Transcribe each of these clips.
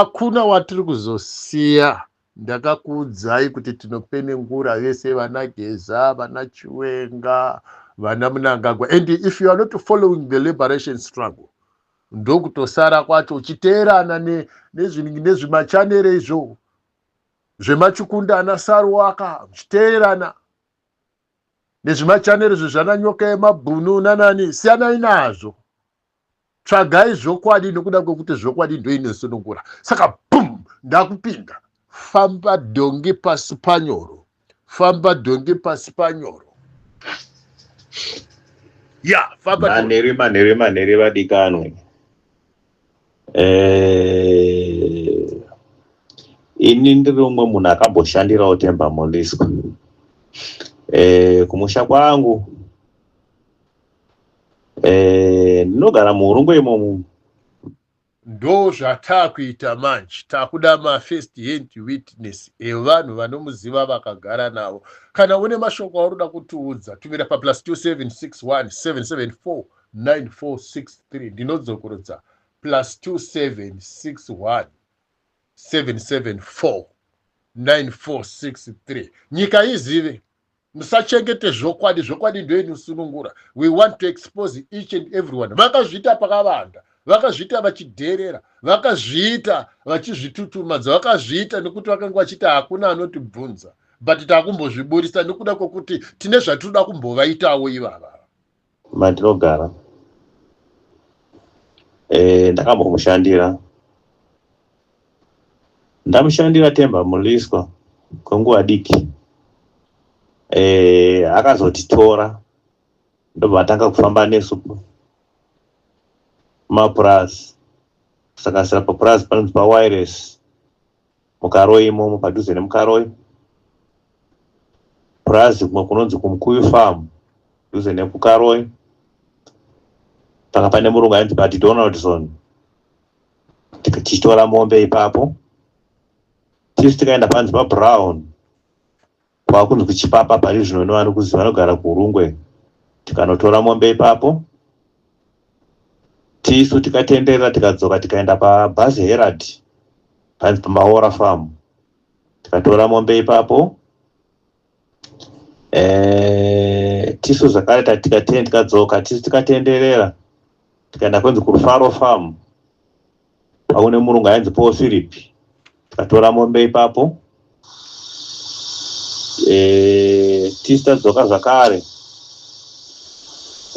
akuna watiri kuzosiya ndakakuudzai kuti tinopenengura vese vana geza vana chiwenga vana munangagwa and if you are not following the liberation struggle ndokutosara kwacho uchiteerana nezvimachanere ne, ne izvo zvemachukunda ana saruwaka zvichiteerana nezvimachanere zvezvananyoka yemabhunu nanani siyanai nazvo tsvagai zvokwadi nokuda kwekuti zvokwadi ndoinosunungura saka bum ndakupinda famba dhongi pasi panyoro famba dhongi pasi panyoro ya famba manhere manhere manhere vadikanwe eh, ini ndiri umwe munhu akamboshandirawo temba monisco eh, kumusha kwangu Eh, ndinogara muhurungwe imomo ndo zvataakuita manje takuda mafirst hand witness evanhu vanomuziva vakagara navo kana une mashoko aunoda kutiudza tumira paplus 27617749463 ndinodzokorodza plus 27617749463 nyika izive musachengete zvokwadi zvokwadi ndoinosunungura we want to expose each and everyone vakazviita pakavanda vakazviita vachidherera vakazviita vachizvitutumadza vakazviita nekuti vakanga vachiti hakuna anotibvunza but takumbozviburitsa nekuda kwekuti tine zvatinoda kumbovaitawo ivava matinogara eh, ndakambomushandira ndamushandira temba muliswa kwenguva diki eh, akazotitora ndobva atanga kufamba nesu mapurazi kusakasira papurazi panonzi pawires mukaroi imomo padhuze nemukaroi purazi kumwe kunonzi kumukuyu farm dhuze nekukaroi panga pane murungu ainzi badi donaldson tichitora mombe ipapo tisu tikaenda panzi pabrown kwakunzi kuchipapa pari zvino ino vanokuziva vanogara kuhurungwe tikanotora mombe ipapo tisu tikatenderera tikadzoka tikaenda pabhazi herad panzi pamaora farm tikatora mombe ipapo eh, tisu zvakare tikadzoka tisu tikatenderera tikaenda kwenzi kufaro farm Paune murungu ainzi Paul Philip. Tikatora mombe ipapo. Eh, tista dzoka zvakare.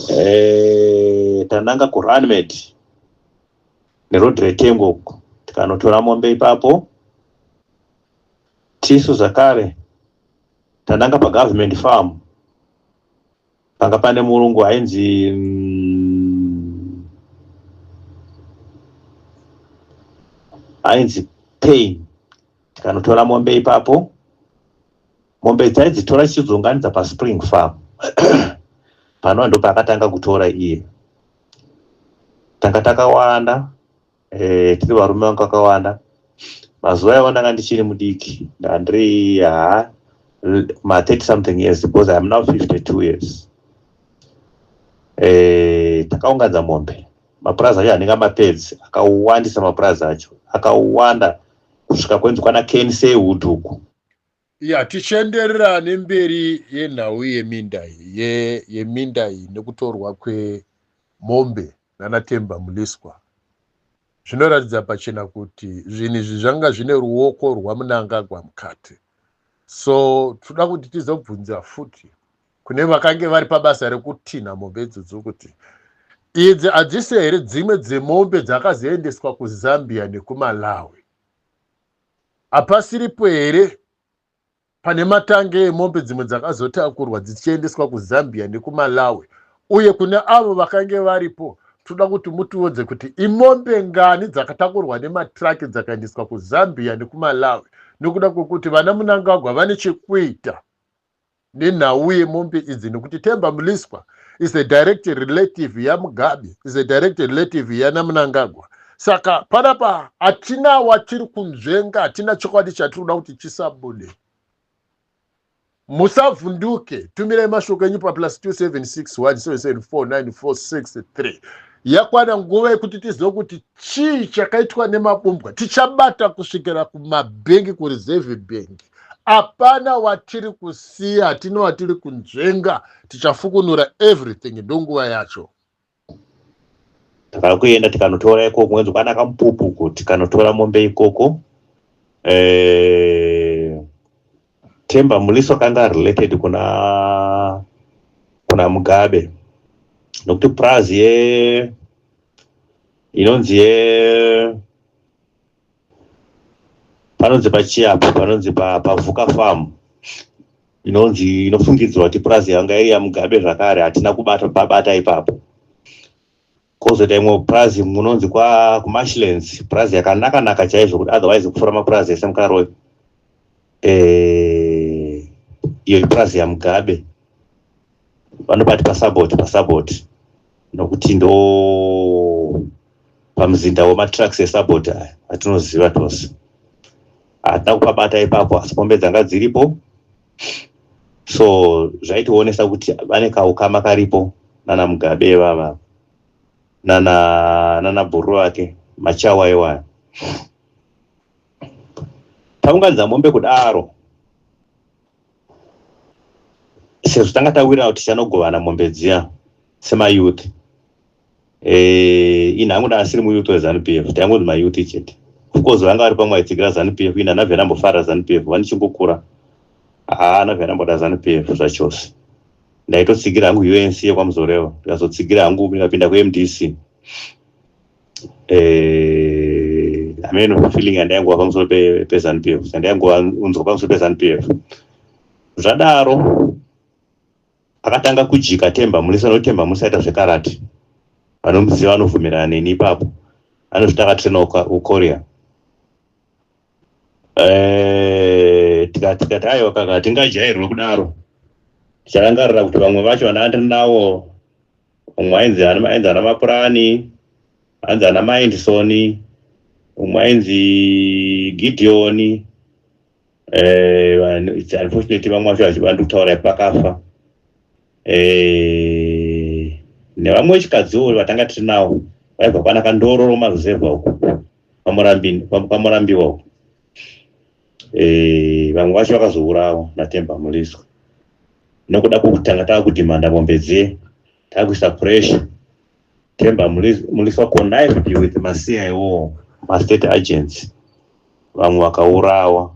Eh, tananga ku Runmed. Ne road retengo uko. Tikanotora mombe ipapo. Tisu zvakare. Tananga pa government farm. panga pane murungu ainzi mm, ainzi pain tikanotora mombe ipapo mombe dzaidzitora chichidzunganidza paspring farm panova ndo paakatanga kutora iye tanga takawanda eh, tiri varume vangu kakawanda mazuva iwayo ndanga ndichiri mudiki ndandiri haa ma 30 something years because iam now 52 years eh, takaunganza mombe mapurazi acho anenge mapedzi akawandisa mapurazi acho akawanda kusvika kwenzi kwana kensey wood uku ya tichienderera nemberi yenhau yeminda ye, yeminda iyi nekutorwa kwemombe nanatemba muliswa zvinoratidza pachena kuti zvinhu izvi zvanga zvine ruoko rwamunangagwa mukati so tinoda kuti tizobvunza futi kune vakange vari pabasa rekutinha mombe idzodzi kuti idzi hadzisi here dzimwe dzemombe dzakazoendeswa kuzambia nekumalawi Hapasiripo here pane matange emombe dzimwe dzakazotakurwa dzichiendeswa kuzambia nekumalawi uye kune avo vakange varipo toda kuti mutiudze kuti imombe ngani dzakatakurwa nematraki dzakaendeswa kuzambia nekumalawi nekuda kwekuti vana munangagwa vane chekuita nenhau yemombe idzi nekuti temba muliswa is a direct relative yamugabe is a direct relative yanamunangagwa saka panapa hatina watiri kunzvenga hatina chokwadi chatiri kuda kuti chisabude musavhunduke tumirai mashoko enyu paplus 2761774946 yakwana nguva yekuti tizive kuti chii chakaitwa nemabumbwa tichabata kusvikira kumabhengi kureserve bhengi apana watiri kusiya hatino watiri kunzvenga tichafukunura everything ndonguva yacho takakuenda tikanotora ikoko wenzi kwana kamupupu ko tikanotora mombe ikoko eh, temba muliso kanga related kuna kuna mugabe nokuti praz ye inonzi ye panonzi pachiapo panonzi pavuka farm inonzi inofungidzwa kuti purazi yanga iri yamugabe zvakare hatina kubata babata ipapo kozoita imwe purazi munonzi kumashlands purazi yakanaka naka chaizvo kuti otherwise kufura mapurazi ese mukaroyi eh, iyo ipurazi yamugabe vanobati pasaboti pasaboti nokuti ndo pamuzinda wematraks esaboti aya atinoziva tose hatina kupabata ipapo asi pombe dzanga dziripo so zvaitionesa kuti vane kaukama karipo nana mugabe ivava nana nana bhuru vake machawa iwaya taunganidza mombe kudaro sezvo tanga tawira kuti tichanogovana mombe dziya semayouth eh, ini hangu ndaasiri muyouth wezanu p f taingonzi mayouth chete ofcourse vanga vari pamwe vaitsigira zanu p f ini ana vhera ambofarira zanu p f vanichingokura haana vhera amboda zanu p f zvachose ndaitotsigira hangu unc yekwamuzorevo ndikazotsigira hangu ndikapinda kumdc eh, ameno eh, feeling yandaingova pamusoro pezanu pf yandaingova unzwa pamusoro pezanu pf zvadaro akatanga kujika temba murisa notemba musaita zvekarati vanomuziva vanobvumirana neni ipapo anozvita akatrena ukoria Eh, tikati tikati aiwa kaka hatingajairwe kudaro ticharangarira kuti vamwe vacho vana ndiri nawo umwe ainzi ani- ainzi ana mapurani anzi ana maindisoni umwe ainzi gideoni eh, vanhu- it's unfortunately vamwe vacho vachi- vandi kutaura kuti vakafa Eh, nevamwe vechikadziwo vatanga tiri nawo vaibva kwana kandororo maruzevha uko kwamurambiwa uko eh, vamwe vacho vakazourawa natemba muliswa nokuda kwokutanga tava kudhimanda mombe dziye tava kuisa pressure temba muliswa connived with macia iwowo mastate agents vamwe vakaurawa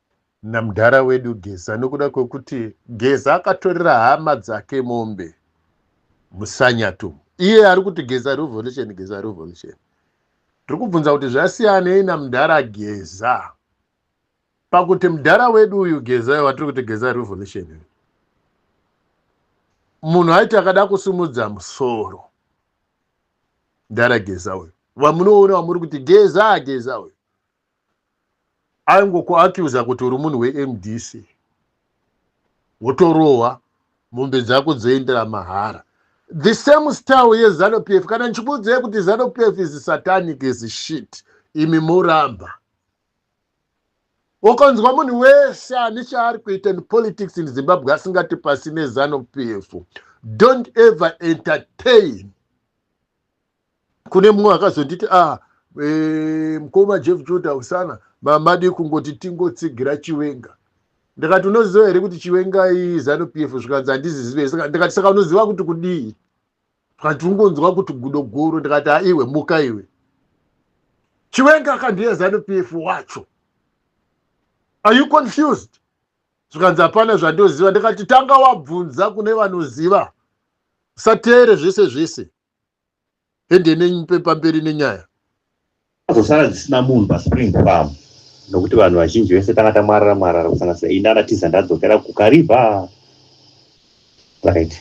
namdara wedu Geza nokuda kwekuti Geza akatorera hama dzake mombe musanyatu iye ari kuti Geza revolution Geza revolution tiri kubvunza kuti zvasiyanei namdara Geza pakuti mdara wedu uyu Geza watiri kuti Geza revolution uyu munhu aiti akada kusimudza musoro ndara geza uyu vamunoona wamuri kuti geza geza uyu aingokuaccuser kuti uri munhu wemdc wotorohwa mombe dzako dzoendera mahara the same style yezanu pf kana ndichikuudzai kuti zanu pf is satanic is shit imi moramba ukanzwa munhu wese ane chaari kuita in politics in zimbabwe asingati pasi nezanu pf don't ever entertain kune mumwe akazonditi a ah, e, eh, mkoma jeff juda usana mamadi kungoti tingotsigira chiwenga ndikati unoziva here kuti chiwenga izanu p f zvikanzi handizizive ndikati saka unoziva kuti kudii zvikanzi ungonzwa kuti gudo guru ndikati aiwe muka iwe chiwenga akandiye zanu p f wacho are you confused zvikanzi hapana zvandoziva ndikati tanga wabvunza kune vanoziva usateere zvese zvese ende nepamberi nenyaya azosara dzisina munhu paspring farm nokuti vanhu vazhinji vese tanga tamwarara mwarara kusanganisa ini anatiza ndadzokera kukariva right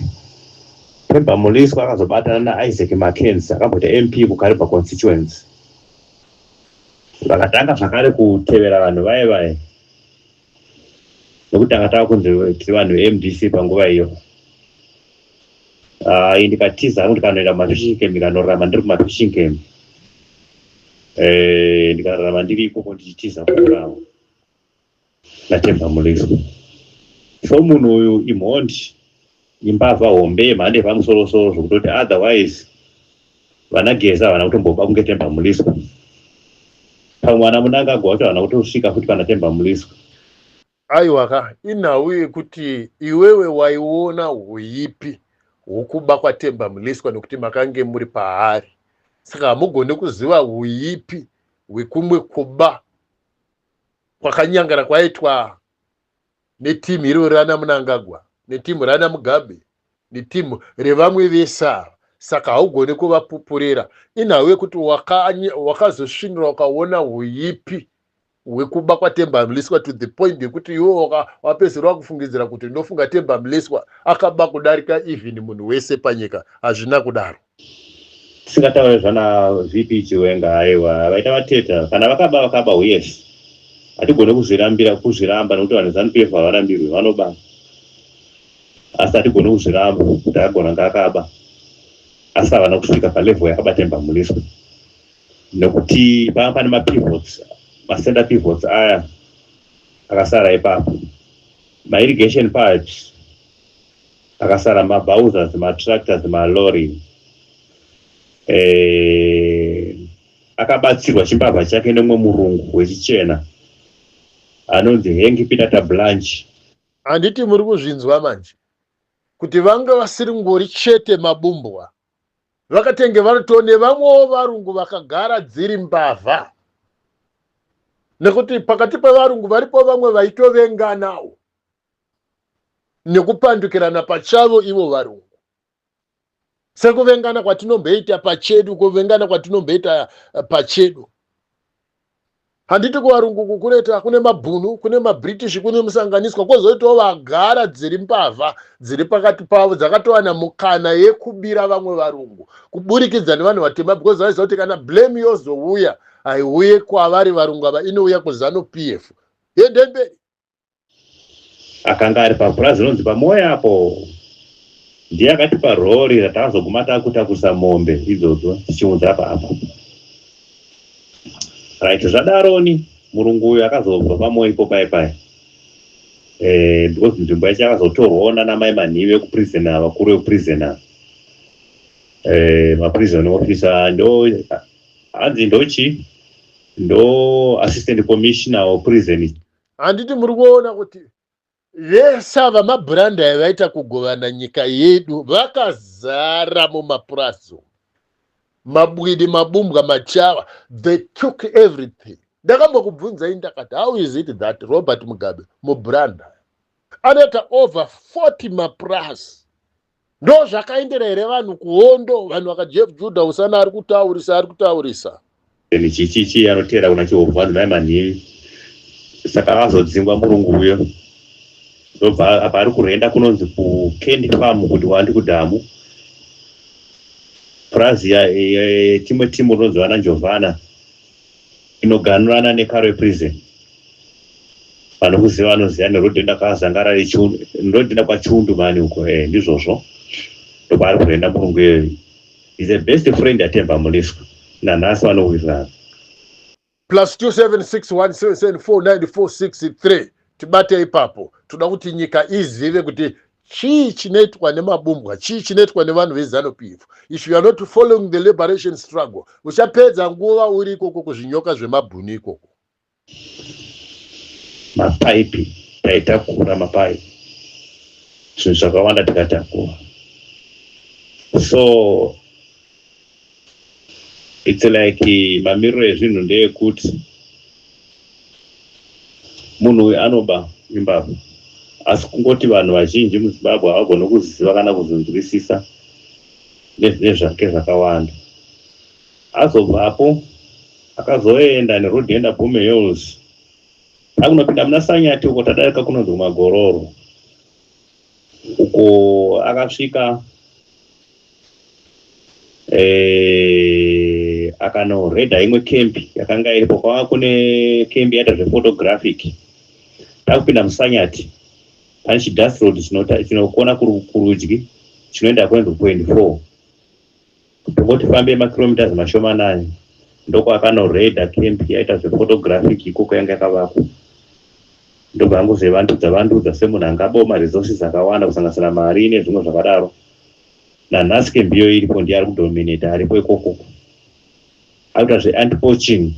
pemba muliswa akazobatana naisaac mackenz akamboita mp kukariva constituency vakatanga zvakare kutevera vanhu vaye vaye nekuti tanga tava kunzi vanhu vemdc panguva iyo ah, i ndikatiza hangu ndikanoenda kumafishing camp ndikanorarama ndiri kumafishing camp eh, ndikararama ndiri ikoko ndichitiza kuurawa natemba muliso so munhu uyu imhondi imbavha hombe yemhando yepamusoro soro zvokutoti otherwise vana geza havana kutomboba kunge temba muliswa pamwe vana munangagwa vacho havana kutosvika futi pana temba muliswa aiwa ka inhau yekuti iwewe waiona huipi hwokuba kwatemba muliswa nekuti makange muri paari saka hamugone kuziva huipi hwekumwe kuba kwakanyangana kwaitwa neteam iro rana munangagwa neteam rana mugabe neteam revamwe vese ava saka haugone kuvapupurira inhau yekuti wakazosvinira waka ukaona huipi hwekuba kwatemba mliswa to the point yekuti iwo wapedzisira wakufungidzira kuti ndofunga temba mliswa akaba kudarika even munhu wese panyika hazvina kudaro tisingataure zvana vp chiwenga aiwa vaita vateta kana vakaba vakaba yes hatigone kuzvirambira kuzviramba nekuti vanhu zanu pf havarambirwi vanoba asi hatigone kuzviramba kuti agona ngaakaba asi havana kusvika palevel yakabatemba muniswa nekuti panga pane mapivots macenter pivots aya akasara ipapo mairrigation pipes pakasara mabhauzas matractors malorry eh, akabatsirwa chimbavha chake nemwe murungu wechichena anonzi hengi pinata blanch handiti muri kuzvinzwa manje kuti vanga vasiri ngori chete mabumbwa vakatenge varito nevamwewo varungu vakagara dziri mbavha nekuti pakati pevarungu varipo vamwe vaitovenganawo nekupandukirana pachavo ivo varungu sekuvengana kwatinomboita pachedu kuvengana kwatinomboita eh, pachedu handiti kuvarungu kukureta kune mabhunu kune mabritish kune musanganiswa kwozoitawo vagara dziri mbavha dziri pakati pavo dzakatowana mukana yekubira vamwe varungu kuburikidza nevanhu vatema because vaiziva kuti kana blame yozouya haiuye kwavari varungu ava inouya kuzanu p f yendemberi akanga ari papurazi rinonzi pamoya apo ndiye akatipa rori ratakazoguma takutakurisa mombe idzodzo tichiunza paapa right zvadaroni murungu uyu akazobva pamoya ipo pai pai eh, because nzvimbo yacho yakazotorwawo nanamai manhivi ekuprison ava kuri vekuprison ava eh, maprison officer ndo hanzi ndochi ndo assistant commissioner weprison handiti muri kuona kuti vese ava mabhurandi aya vaita kugovana nyika yedu vakazara mumapurazi umu mabwidi mabumbwa machava they took everything ndakambokubvunzai ndakati how is it that robert mugabe mubhurandi aya anoita over 40 mapurazi ndo zvakaendera here vanhu kuhondo vanhu vakajef juda usana ari kutaurisa ari kutaurisa michichichi anoteera kuna chihovhu vanhu mai manhimi saka vazodzingwa murungu uyo ndobva apa ari kurenda kunonzi kucandy farm kuti wandi kudhamu purazi timwe timu rinonzi vana njovana inoganurana nekarwe prison vanokuziva vanoziva nerodhenda kwazangara rodhenda kwachundu mani uko e ndizvozvo ndokwaari kuenda murungu iyoyo is a best friend atemba muliswa nanhasi vanowirirana plus 2761774946 tibate ipapo toda kuti nyika izive kuti chii chinoitwa nemabumbwa chii chinoitwa nevanhu vezanu p f if you are not following the liberation struggle uchapedza nguva uri ikoko kuzvinyoka zvemabhuni ikoko mapaipi taitakura mapaipi zvinhu zvakawanda tikatakura so It's like mamiriro ezvinhu ndeyekuti munhu uyu anoba imbavha asi kungoti vanhu vazhinji muzimbabwe havagone kuziva kana kuzonzwisisa nezvinezvake zvakawanda azobvapo akazoenda neroad enda bome hills akunopinda muna sanyati uko tadarika kunonzi magororo uko akasvika eh, akanoreda imwe kembi yakanga iripo kwava kune kembi yaita zvephotographic takupinda musanyati pane chidust road chinokona kurudyi chinoenda kuendpoint four Ndongoti fambei makilometers mashomanani ndokwakanoraida camp yaita zvephotographic ikoko yanga yakavakwa ndobva angozevandudza vandudza semunhu anga abawo maresources akawanda kusanganisira mari nezvimwe zvakadaro nanhasi camp iyoyo iripo ndiye ari kudominate aripo ikokoko akuita zveantipoaching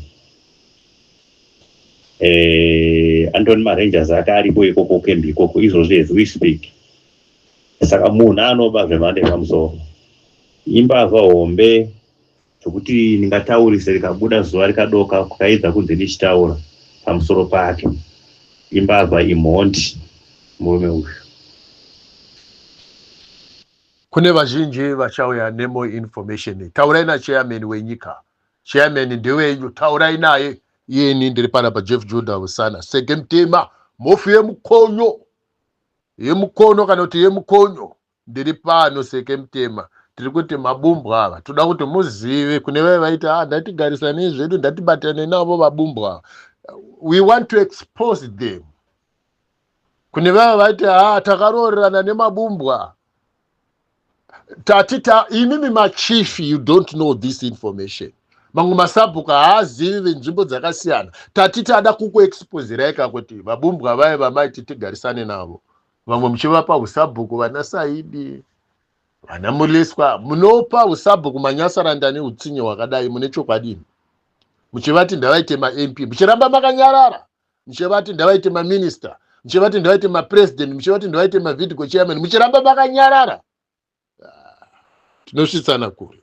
eh, andoni marangers ake aripo ikoko camp ikoko izvozvi as we speak saka munhu anoba zvemhando yepamusoro imbavha hombe zvekuti ndingataurise rikabuda zuva rikadoka kukaedza kunzi ndichitaura pamusoro pake imbavha imhondi murume uyu kune vazhinji vachauya nemo information taurai nachairman wenyika chairman ndewenyu taurai naye iyeni ndiri pana pajeff juda usana sege mtema mofi yemukonyo yemukono kana kuti yemukonyo ndiri pano seke mutema tiri kuti mabumbwa ava toda kuti muzive kune vave vaiti a ah, ndatigarisanei zvedu ndatibatane navo vabumbwa ava we want to expose them kune vava vaiti a ah, takaroorerana nemabumbwa tati ta imimi machief you don't know this information mamwe masabhuku haazivi venzvimbo dzakasiyana tati tada kukuexpozirai ka kuti vabumbwa vaye vamaiti tigarisane navo vamwe muchivapa usabhuku vana saidi vana muleswa munopa usabhuku manyasaranda neutsinye hwakadai mune chokwadini muchivati ndavaite mamp muchiramba makanyarara muchivati ndavaite maminista muchivati ndavaite mapresident muchivati ndavaite mavidco chairman muchiramba makanyarara ah, tinosvitsana kure